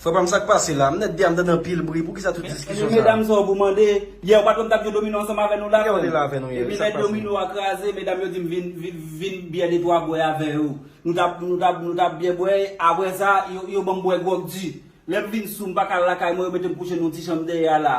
Frè pam sak pase la? Mnèt di a mtande anpil bri poukisa tout diskisyon sa. Men medam sa w pou mande. Yè ou pat konn tap jwe domino ansanm avè nou la frè m. Yè ou te la avè nou yè. Epi lè domino a kraze medam yo dim vin vin byè de twa bwè avè yo. Nou tap nou tap nou tap byè bwè aprè sa yo banm bwè gròg di. Lèm vin sou m paka al lakay mwen yo metem kouche nan yon ti chanm dèyè a la.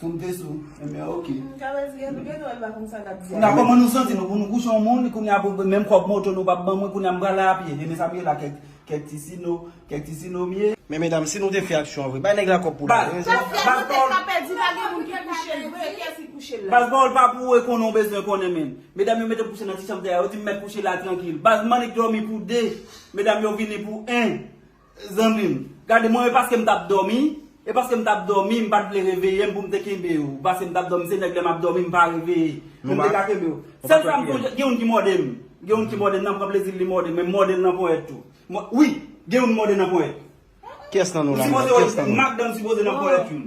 Fout Veso enben ok. Kabeer di anpil bagay pa konn sa lap di a. Konnya kòman nou santi nou pou nou kouche yon moun konnya pou menm kòb moto nou pap ban mwen konnya m pral la a pye enben sa m ye la kèk ti sino kèk ti sino m ye. Men medam si nou te fè aksyon an vre bay nèg la kòb pou la. Baz pawòl pa pèdi pa gen moun ki kouche l vre kiyès ki kouche l la. Baz pawòl pa pou e konnen w bezwen konnen menn. Medam yo mete m kouche nan ti chanm te a yo di m mèt kouche la trankil baz m annik dòmi pou 2 medam yo vini pou 1. Zanmim gade mwen e paskem tap domi e paskem tap domi m pat vle reveyem poum te kenbew paskem tap domi se nèg lèm ap domi m pa reve poum te ka kenbew sèl sa m sonje gen youn ki mòdem gen youn ki mòdem nan pran plezil li mòdem men m mòdel nan ponyèt tou wi gen youn m mòde nan ponyèt ou sipoze wè madanm sipoze nan ponyèt youn.